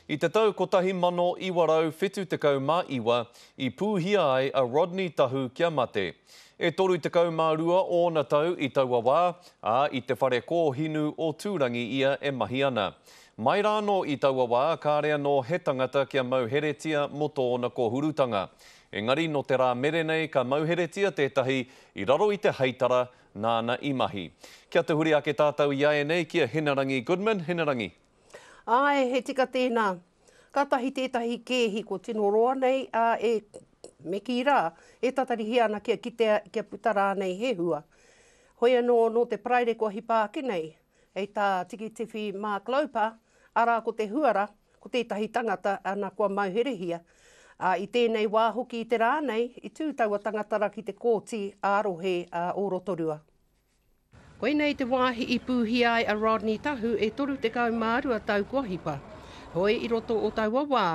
I te tau 1979 i pūhia ai a Rodney Tahu kia mate. E 32 ōna tau i taua wā, ā, i te whare kōhinu o Tūrangi ia e mahi ana. Mai rānō i taua wā, kāre anō he tangata kia mauheretia mō tōna kōhurutanga. Engari nō te rā mere nei ka mauheretia tētahi i raro i te heitara nāna i mahi. Kia tahuri ake tātou i ēnei ki a Hinerangi Goodman, Hinerangi. Āe, he tika tēnā. Kātahi tētahi kēhi kua tino roa nei, ā, e, me kī rā, e tatarihia ana kia kitea, kia puta rānei he hua. Hoi anō, nō te Paraire kua hipa ake nei, hei tā Tikitiwhi Mark Loper, arā ko te huara, ko tētahi tangata ana kua mauherehia. Ā, i tēnei wā hoki i te rā nei, i tū taua tangata ra ki te Kōti ā-Rohe ā o Rotorua. Koinei te wāhi i pūhia ai a Rodney Tahu e 32 tau kua hipa. Hoi i roto o taua wā,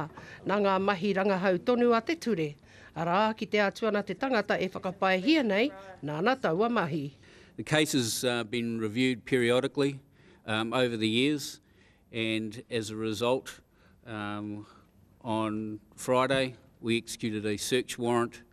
nā ngā mahi rangahau tonu a te ture, arā, kite atu ana te tangata e whakapaehia nei, nāna taua mahi. The case has been reviewed periodically over the years and as a result on Friday we executed a search warrant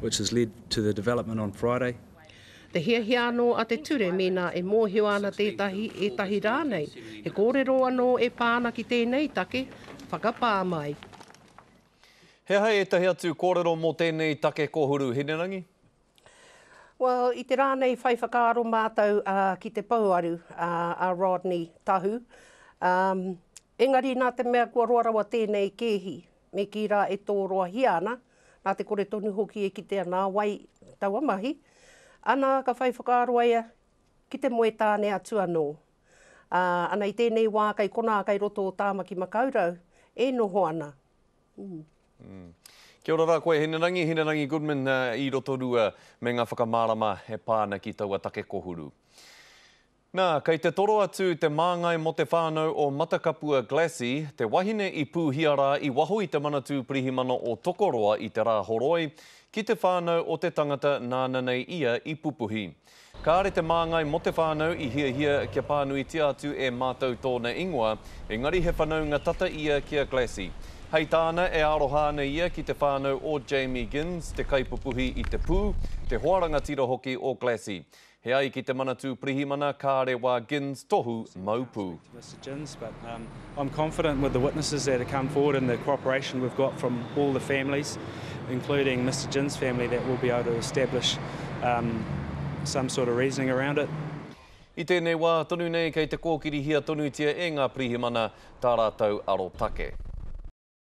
which has led to the development on Friday. Te hiahia anō a te ture mēnā e mōhio ana tētahi, ētahi rānei, he kōrero anō e pā ana ki tēnei take, whakapā mai. He aha ētahi atu kōrero mō tēnei take kōhuru, Hinerangi? Well, i te rā nei whai whakaaro mātou uh, ki te pouaru uh, a Rodney Tahu, um, Engari nā te mea kua roa rawa tēnei kēhi, me kī rā e tōroahia ana, nā te kore tonu hoki e kitea nā wai taua mahi, ana ka whai whakaaro ai ia ki te moe tāne atu anō. Ā, ana i tēnei wā kei konā kei roto o Tāmaki Makaurau e noho ana. Umm. Kia ora rā koe Hinerangi, Hinerangi Goodman i Rotorua me ngā whakamārama e pā ana ki taua take kohuru. Nā, kei te toro atu te māngai mō te whānau o Matakapua Glassie, te wahine i pūhia rā i waho i te Manatū Pirihimana o Tokoroa i te rā horoi, ki te whānau o te tangata nāna nei ia i pupuhi. Kāre te māngai mō te whānau i hiahia kia pānuitia atu e mātou tōna ingoa, engari he whanaunga tata ia ki a Glassie. Hei tāna, e aroha ana ia ki te whānau o Jamie Ginns, te kaipupuhi i te pū, te hoa rangatira hoki o Glassie. He ai ki te Manatū Pirihimana Kāre Wā Ginns tohu mau pū. Mr Ginns but um I'm confident with the witnesses that have come forward and the cooperation we've got from all the families including Mr Ginns family that we'll be able to establish um some sort of reasoning around it. I tēnei wā tonu nei kei te kōkirihia tonutia e ngā Pirihimana tā rātou arotake.